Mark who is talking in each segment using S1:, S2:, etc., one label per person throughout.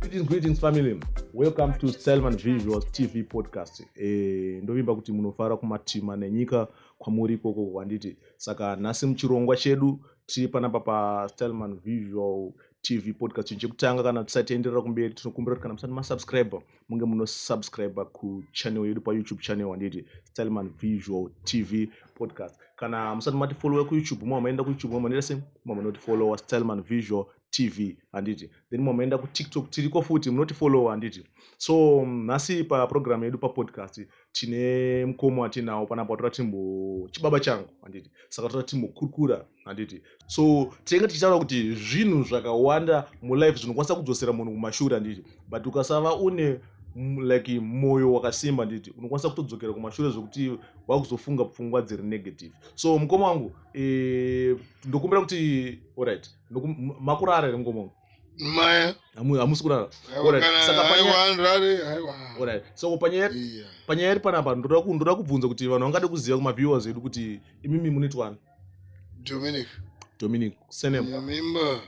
S1: Greetings, greetings family. Welcome to Selman Visuals TV podcast. Eh, ndovimba kuti munofara kumatima nenyika kwamuri ikoko kwanditi. Saka nhasi muchirongwa chedu tiri panapa pa Selman Visual TV podcast chekutanga kana tisati enderera kumberi tinokumbira kuti kana musati masubscribe munge munosubscribe kuchannel yedu payoutube channel wanditi stalman visual tv podcast kana musati mati followe kuyoutube mwa maenda kuyoutube mwa maneta se mwa manoti followa stalman visual tv handiti then mwa maenda kutiktok tiriko futi munoti followa handiti so nhasi paprogramu yedu papodcast tine mukomo atinawo panapa tora timbo chibaba changu handiti saka tora timbokurukura handiti so tinenge tichitaura kuti zvinhu zvakawanda mulife zvinokwanisa kudzosera munhu kumashure handiti but ukasava une like mwoyo wakasimba nditi unokwanisa kutodzokera kumashure zvekuti wakuzofunga pfungwa dziri negative so mukoma wangu e, ndokumbira kuti orit makurara here mukoma wangu maya
S2: hamusi
S1: kurara so panyaya iri panapa ndoda kubvunza kuti vanhu vangade kuziva kumaviewers edu kuti imimi munitwani Dominic. Dominic. Surname. Nyamimba.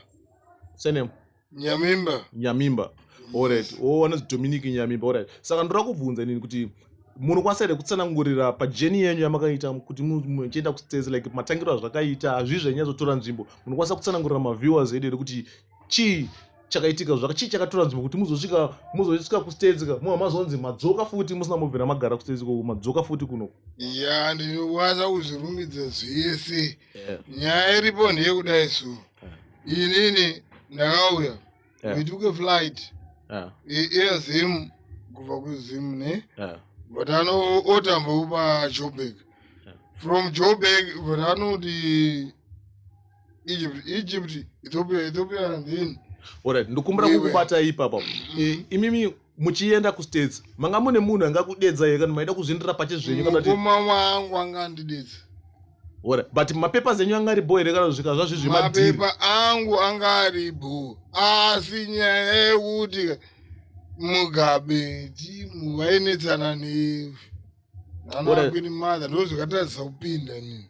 S1: Surname. Nyamimba. Nyamimba. All right. Oh, wanonzi Dominic Nyamimba. All right. Saka ndoda kubvunza nini kuti munokwanisa here kutsanangurira pajeni yenyu yamakaita kuti muchienda kustezi like matangiro azvakaita hazvii zvanyatsotora nzvimbo munokwanisa kutsanangurira maviewers edu here kuti chii chakaitika zvaka chii chakatora nzvimbo kuti muzosvika muzosvika kustage ka muva mazonzi madzoka futi musina mobvira magara kustage ko madzoka futi kuno ya
S2: ndinokwanisa kuzvirumbidza zvese yeah. nyaya iripo ndiye kudai so yeah. inini ndakauya yeah. we took a flight yeah. air zim kubva kuzim ne yeah. but ano otambokupa joburg yeah. from joburg but anoti Egypt, Egypt, Ethiopia, Ethiopia and then. Alright, ndokumbira
S1: kukubata ipapa. Mm-hmm. Imimi muchienda kustates manga mune munhu angakudedza here kana maida kuzvindira pache zvenyu kana kuti mukoma wangu anga
S2: andidedza ora
S1: but mapepa zenyu anga ari bho here kana zvika zvazvizvi mapepa angu
S2: anga ari bho asi nyaya yekuti mugabe timu vainetsana nevi anakwini madha ndozvakatarisa kupinda nini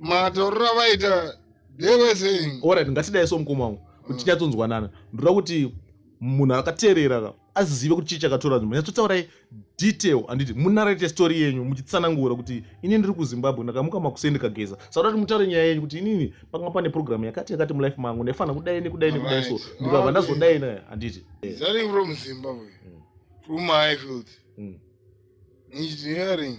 S2: matoriro avaita they were saying orit ngatidai so mukoma
S1: wangu kuti mm. tinyatsonzwanana ndoda kuti munhu akateerera ka azive kuti chii chakatora nzvimbo nyatsotsaurai detail handiti munarate story yenyu muchitsanangura kuti ini ndiri kuzimbabwe ndakamuka makuseni ndikageza saka kuti mutaure nyaya yenyu kuti inini panga pane programu yakati yakati mulife mangu ndaifanira kudai nekudai nekudai so ndikabva ndazodai naye handiti starting from
S2: zimbabwe mm. from highfield mm. engineering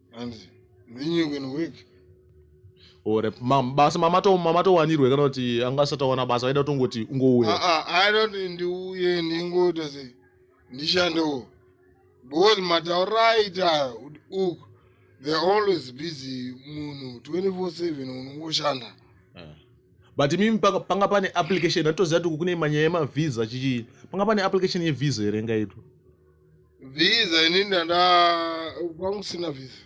S2: and then you can work
S1: or basa mamatowanirwe kana kuti anga asati awana basa aida kutongoti ungouya ah, ah, aida kuti ndiuye
S2: ndingoita se ndishandewo because mataura aita uk they're always busy munhu 24/7 unongoshanda eh.
S1: but mimi panga pane application atoziva kuti kune manyaya emavhiza chichii panga pane application yevhiza here ngaitwa
S2: visa inini ndaa kwanga kusina visa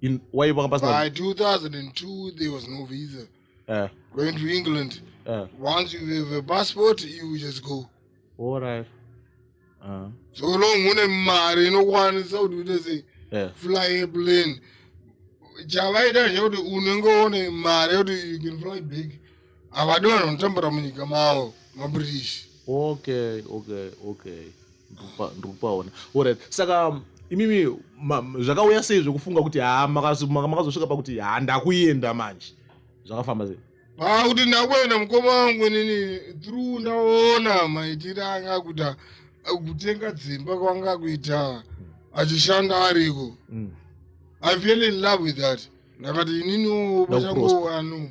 S2: In,
S1: why kwanga pasina by 2002
S2: there was no visa Eh, going to england eh, once you have a passport you just go all right.
S1: Ah,
S2: so long une mari inokwanisa kuti uite sei eh, fly airplane chavaita chekuti unenge une mari yekuti you can fly big Havadi vanhu vanotambura munyika mavo maBritish. Okay,
S1: okay, okay. Ndikupaona. Alright. Saka um, imimi zvakauya sei zvekufunga kuti ha makazosvika pakuti ha ndakuenda manje. Zvakafamba sei? Ah, kuti ndakuenda
S2: mukoma wangu inini through ndaona maitire anga akuita kutenga dzimba kwanga kuita achishanda ariko mm. i feel in love with that ndakati inini pachangu wanu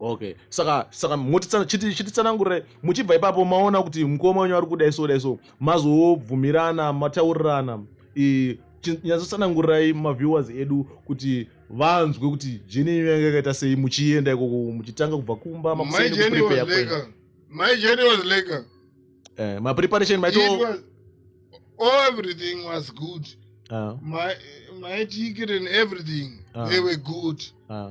S2: okay saka
S1: saka chititsanangurire muchibva ipapo maona kuti mukoma wenyu ari kudai so dai so mazobvumirana mataurirana nyatsosanangurirai maviewers edu kuti vanzwe kuti jeni yenyu yange yakaita sei muchienda ikoko muchitanga kubva kumba mapreparation maito
S2: everything was good uh. my, my ticket and everything uh. they were good uh.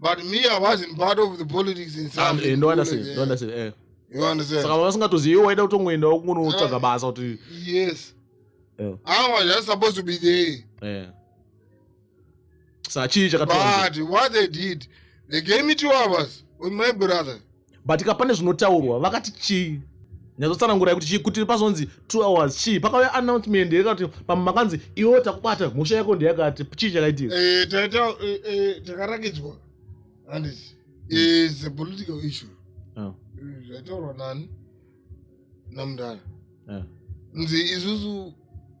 S1: but me i
S2: wasn't part of the politics in ah, eh, no understand no understand eh
S1: you understand
S2: saka vasingatozii iwe waida
S1: kutongoendawo kunotsvaga ah, basa kuti yes
S2: eh. i was just supposed to be there eh saka chii chakatoa but what they did they gave me two hours with my brother but ka pane
S1: zvinotaurwa vakati chii nyatsotsanangurai kuti chii kuti pazonzi two hours chii pakauya announcement here kana kuti pamwe makanzi iwewo takubata mhosva yako ndeyakati chii chakaitika eh, eh, eh, takarakidzwa
S2: handisi is a political issue ah. zvaitaurwa nani namudhara ah. nzi isusu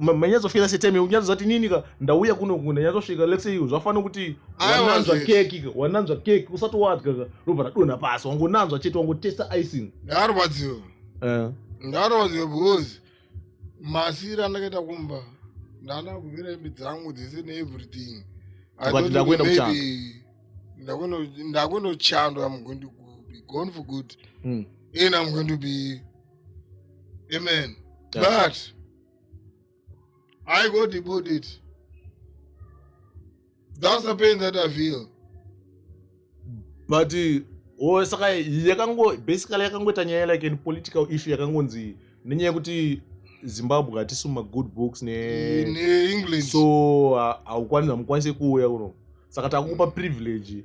S1: manyatsofira setime unyatsodza kuti nini ka ndauya kuno kunhu ndanyatsosvika let's say zvafanira kuti wananzva keki ka wananzva keki usati wadya ka robva radonha pasi wangonanzwa chete wangotesta icing ndarwadziwa eh.
S2: ndarwadziwa because masiri andakaita kumba ndana kuvira imbi dzangu dzese neeverything
S1: ndakuenda
S2: kuchandwa am going to be gone for good mm. and am going to be amen but i go deport it that's the pain that i feel
S1: but eh, oh, saka yakango basically yakangoita nyaya like an political issue yakangonzi nenyaya yekuti zimbabwe hatisi mumagood books neengland
S2: so
S1: haukwanisi hamukwanise kuuya kuno saka takukupa privilege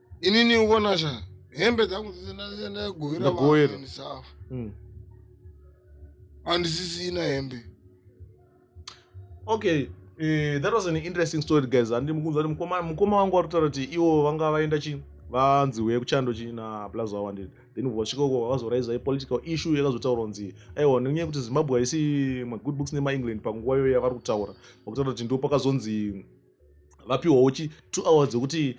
S2: inini uona sha hembe dzangu dzese ndagovera vasafa hmm. handisisina hembe
S1: okay uh, that was an interesting story guys handi mukunzwa kuti mukoma wangu wari kutaura kuti iwo vanga vaenda chi vanzi huye kuchando chi na blaza wawandiri then vasvika uko vakazoraisa ipolitical issue yakazotaura kunzi aiwa nenyaya yekuti zimbabwe haisi magood books nemaengland panguva iyoyo yavari kutaura vakutaura kuti ndo pakazonzi vapiwawo chi two hours dzekuti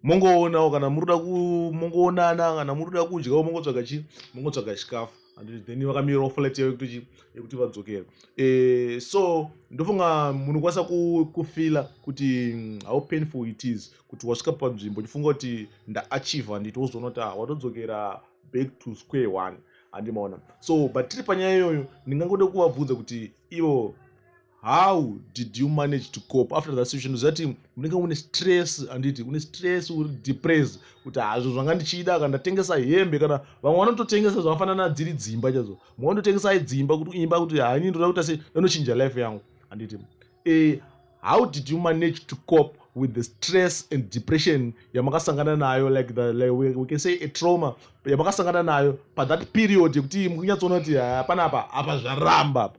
S1: mongoonawo kana muri kuda kumongoonana kana muri kuda kudyawo mongotsvaga chi mongotsvaga chikafu and then vakamirawo flight yavo yekuti chi yekuti vadzokere eh, so ndofunga munokwanisa kufila kuti mm, how painful it is kuti wasvika panzvimbo uchifunga kuti ndaachiva handiti wozoona kuti ah, watodzokera back to square one handimaona so but tiri panyaya iyoyo ndingangode kuvabvunza kuti ivo how did you manage to cope after that situation zati unenge une stress anditi une stress uri depress kuti hazvo zvanga ndichida kana ndatengesa hembe kana vamwe vanototengesa zvakafanana dziri dzimba chazo mwe vanototengesa dzimba kuti imba kuti hani ndoda kuita se ndanochinja life yangu anditi eh, how did you manage to cope with the stress and depression yamakasangana nayo like the like we, we can say a trauma yamakasangana nayo pathat period yekuti mukunyatsoona kuti hapana apa apa zvaramba apa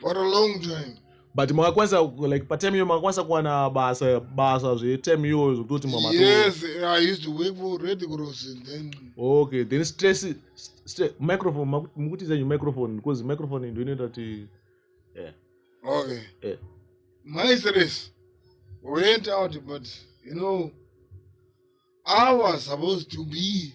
S2: for a long time but makakwanisa
S1: like patem iyo makakwanisa kuwana basa basa zvetem iyo zvekutoti yes i used to
S2: work for red cross then okay then
S1: stress st microphone mukuti zenyu microphone because microphone ndo inoita kuti yeah.
S2: okay yeah. my stress went out but you know i was supposed to be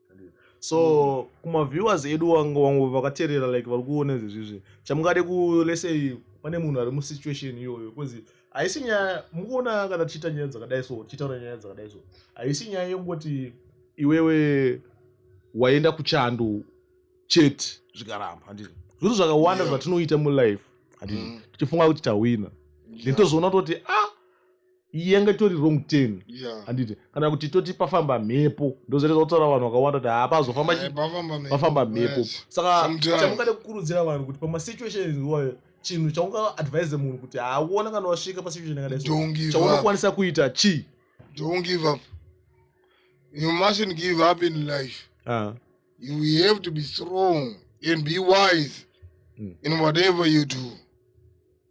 S1: so mm. kumaviewers edu wangu vakaterera like vari kuona izvezvizvi chamungade kulesei pane munhu ari musituation iyoyo bcause haisi nyaya mukuona kana tichiita nyaya dzakadai so tichitaura nyaya dzakadai so haisi nyaya yokungoti iwewe waenda kuchando chete zvikaramba handii zvinhu zvakawanda zvatinoita mulife handii mm. tichifunga kuti tahwina then tozoona toti a ah, iyi yanga itori wrong ten handiti kana kuti toti pafamba mhepo ndozoreza kutaura vanhu vakawanda kuti haa pazofamba pafamba mhepo saka chamungade kukurudzira vanhu kuti pamasituations iwayo chinhu chaunga advise munhu kuti haaona kana wasvika pasituation yakadai chaunokwanisa kuita chii don't give up
S2: you mustn't give up in life uh. you have to be strong and be wise mm. in whatever you do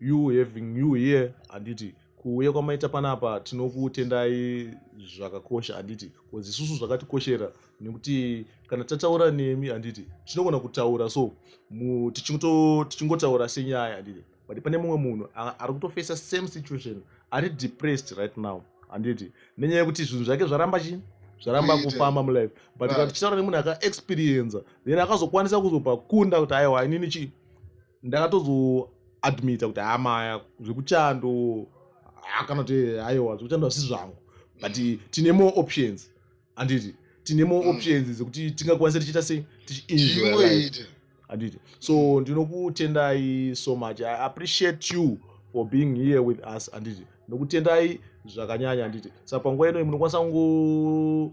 S1: you having you here handiti kuuya kwamaita panapa tinokutendai zvakakosha handiti bcause isusu zvakatikoshera nekuti kana tataura nemi handiti tinogona kutaura so tichingotaura senyaya handiti but pane mumwe munhu ari kutofesa same situation ari depressed right now handiti nenyaya yekuti zvinhu zvake zvaramba chii zvaramba kufamba mulife but kana tichitaura nemunhu akaexperienza then akazokwanisa kuzobva kunda kuti aiwa inini chii ndakatozoadmita kuti haa maya zvekuchando haa kana kuti aiwa zvekuchando asi zvangu but tine more options handiti tine more Mm. options dzekuti tingakwanisa tichiita sei tichienjoya life chingoita handiti so ndinokutendai so much i appreciate you for being here with us handiti ndinokutendai zvakanyanya handiti saka panguva inoyi munokwanisa kungo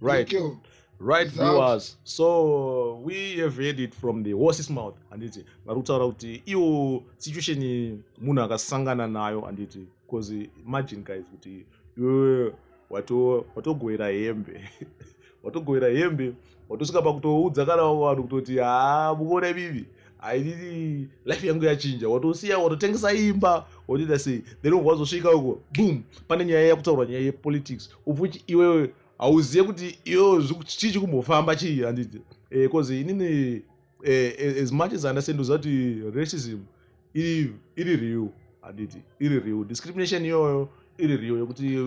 S2: right
S1: right viewers so we have heard it from the horses mouth handiti vari kutaura kuti iwo situation munhu akasangana nayo handiti because imagine guys kuti iwe watogoera hembe watogoera hembe watosvika pakutoudza kana vanhu kutoti haa mukuona ibibi airiri life yangu yachinja watosiya watotengesa imba wotoita sei then ubva wazosvika uko boom pane nyaya yakutaurwa nyaya yepolitics ubva uchi iwewe hauzive kuti iyo chii chikumbofamba chii handiti bcause eh, inini eh, eh, as much as understand uziva kuti racism iri iri real handiti iri real discrimination iyoyo iri real yekuti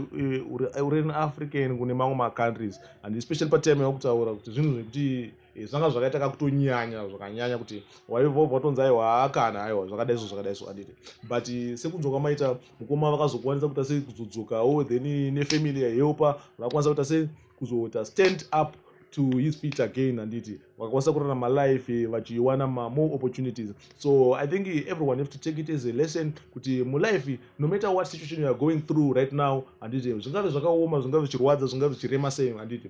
S1: uri in african kune mamwe macountries and especially patime yakutaura kuti zvinhu zvekuti eh, zvanga zvakaita kakutonyanya zvakanyanya kuti waivova watonzi aiwa haakana aiwa zvakadai so zvakadai so anditi but eh, sekunzwa kwamaita mukoma vakazokwanisa kuita sei kuzodzokawo then nefamily yahelpa vakwanisa kuita sei kuzoita stand up to his feet again handiti vakakwanisa kurarama life eh, vachiwana mamore opportunities so i think eh, everyone have to take it as a lesson kuti mulife eh, no matter what situation youare going through right now handiti zvingave zvakaoma zvingave zvichirwadza zvingave zvichirema sei handiti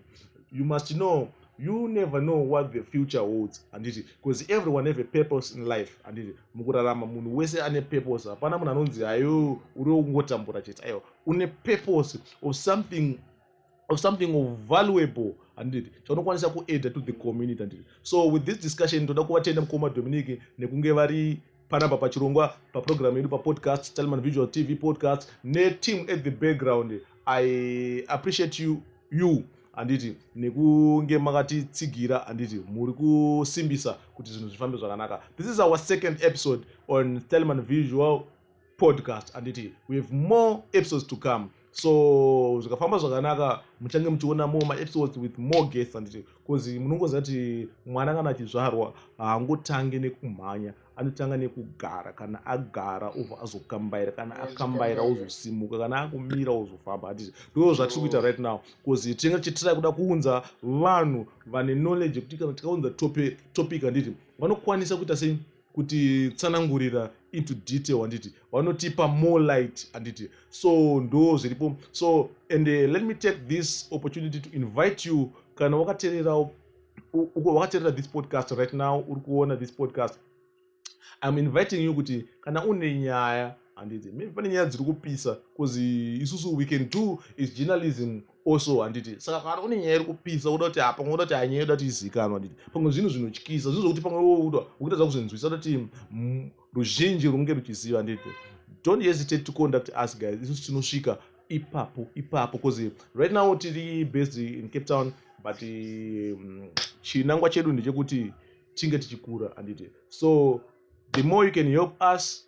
S1: you must know you never know what the future holds handiti because everyone have a purpose in life handiti mukurarama munhu wese ane purpose hapana munhu anonzi hayo uri wokungotambura chete aiwa une purpose of something of something of valuable handiti chaunokwanisa kuader to the community handiti so with this discussion toda kuvatenda mukoma dominic nekunge vari panapa pachirongwa paprogramu yedu papodcast talman visual tv podcast neteam at the background i appreciate you, you handiti nekunge makatitsigira handiti muri kusimbisa kuti zvinhu zvifambe zvakanaka this is our second episode on telman visual podcast handiti we have more episodes to come so zvikafamba zvakanaka muchange muchiona more maepisodes with more guests handiti bcause munongoziva kuti mwana kana achizvarwa haangotange nekumhanya anotanga nekugara kana agara obva azokambaira kana akambaira ozosimuka kana akumira ozofamba handiti ndoo zvatiri kuita right now bcause tinenge tichitirai kuda kuunza vanhu vane knowledge yekuti kana tikaunza topic handiti vanokwanisa kuita sei kuti tsanangurira into detail handiti vanotipa more light handiti so ndo zviripo so and uh, let me take this opportunity to invite you kana wakatererawo wakaterera this podcast right now uri kuona this podcast iam inviting you kuti kana une nyaya handiti maybe pane nyaya dziri kupisa bcause isusu we can do is journalism also handiti saka kana kune nyaya iri kupisa uda kuti pamwe uda kuti hanyaya yoda kuti izikanwa handiti pamwe zvinhu zvinotyisa zvinhu zvokuti pamwe wouda ukutadza kuzvinzwisa kuti ruzhinji runge ruchiziva handiti don't hesitate to conduct us guys isusu tinosvika ipapo ipapo bcause right now tiri based in cape town but um, chinangwa chedu ndechekuti tinge tichikura handiti so the more you can help us